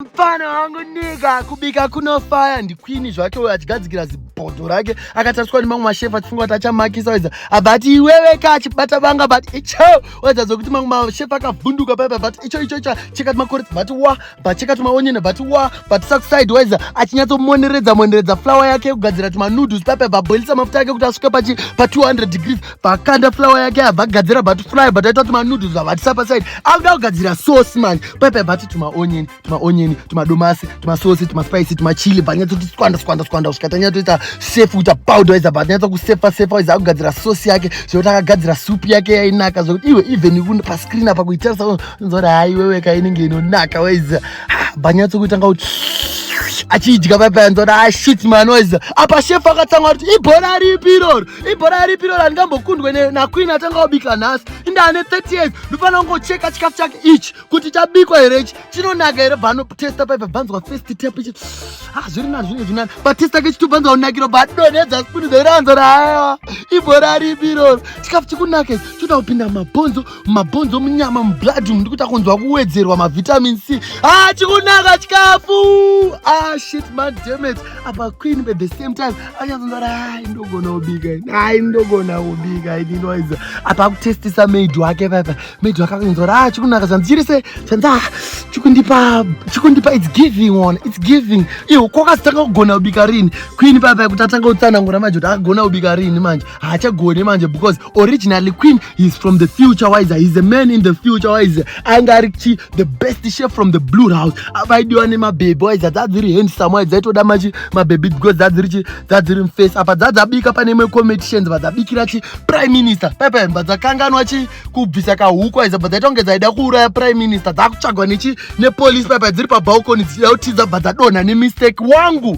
mfana wangu nika kubika kunofaya ndikwini zvake uyo achigadzikira zibhodho rake akatariswa nemamwe mashefu achifunga kuti achamakisa wedza abva ati iwewe ka achibata vanga but icho wedza dzokuti mamwe mashefu akavhunduka paipa but icho icho icho chekati makore but wa but chekati maonyene but wa but sakuside wedza achinyatsomoneredza moneredza flower yake kugadzira tumanoodles paipa bvaboilisa mafuta ake kuti asvike pachi pa 200 degrees pakanda flower yake abva gadzira but fry but aita kuti manoodles vavatisa paside akuda kugadzira sauce manje paipa abva ati tumaonyeni tumaonyeni tumadomasi tumasosi tumaspicy tumachili bvanyatoti skwanda skwanda skwanda kusvika tanyatoita sef kuita powder iza bvanyatsa kusefa sefa iza akugadzira sauce yake zvekuti akagadzira soup yake yainaka zvekuti iwe even pascreen apa kuitarisa unzora hai wewe ka inenge inonaka waiza bvanyatso kuitanga kuti achiidya paipa yanzora ashit ah, manoiza apa shefu akatanga kuti ibhora ripi iroro ibhora ripi ro randingambokundwe naqueen atanga kubika nhasi indane 30 years ndofanira kungocheka chikafu chake ichi kuti chabikwa here ichi chinonaka here bvanotesta paipa bvanzwa first tap ichi ha ah, zviri na zvine zvinani batesta ke chitu bvanzwa kunakiro badonedza spuni dzeranzo raaiwa ibhora ripi iroro chikafu chikunake choda kupinda mabhonzo mabhonzo munyama mublood umu ndikuita kunzwa kuwedzerwa mavitamin c ah chikunaka chikafu ah shit man dammit apa queen at the same time anyazonzara hai ndogona kubika ini hai ndogona kubika ini noiza apa akutestisa maid wake papa maid wake akunzwara ah chikunaka zvandichiri se zvanza ah, chikundipa chikundipa its giving one its giving iwo kwakazitanga kugona kubika rini queen papa kuti atanga kutsanangura manje kuti akagona kubika rini manje haachagoni manje because originally queen he's from the future wise he's a man in the future wise ainge ari chi the best chef from the blue house avaidiwa nemabhebhi wise dzadziri handsome wise dzaitoda machi mabhebhi because dzadziri chi dzadziri mface apa dzadzabika pane imwe competitions vadzabikira chi prime minister pepe vadzakanganwa chi kubvisa kahuku wise bva dzaita kunge dzaida kuuraya prime minister dzakutsvagwa nechi nepolice pepe dziri pabalcony dzichida kutiza bva dzadonha nemistake wangu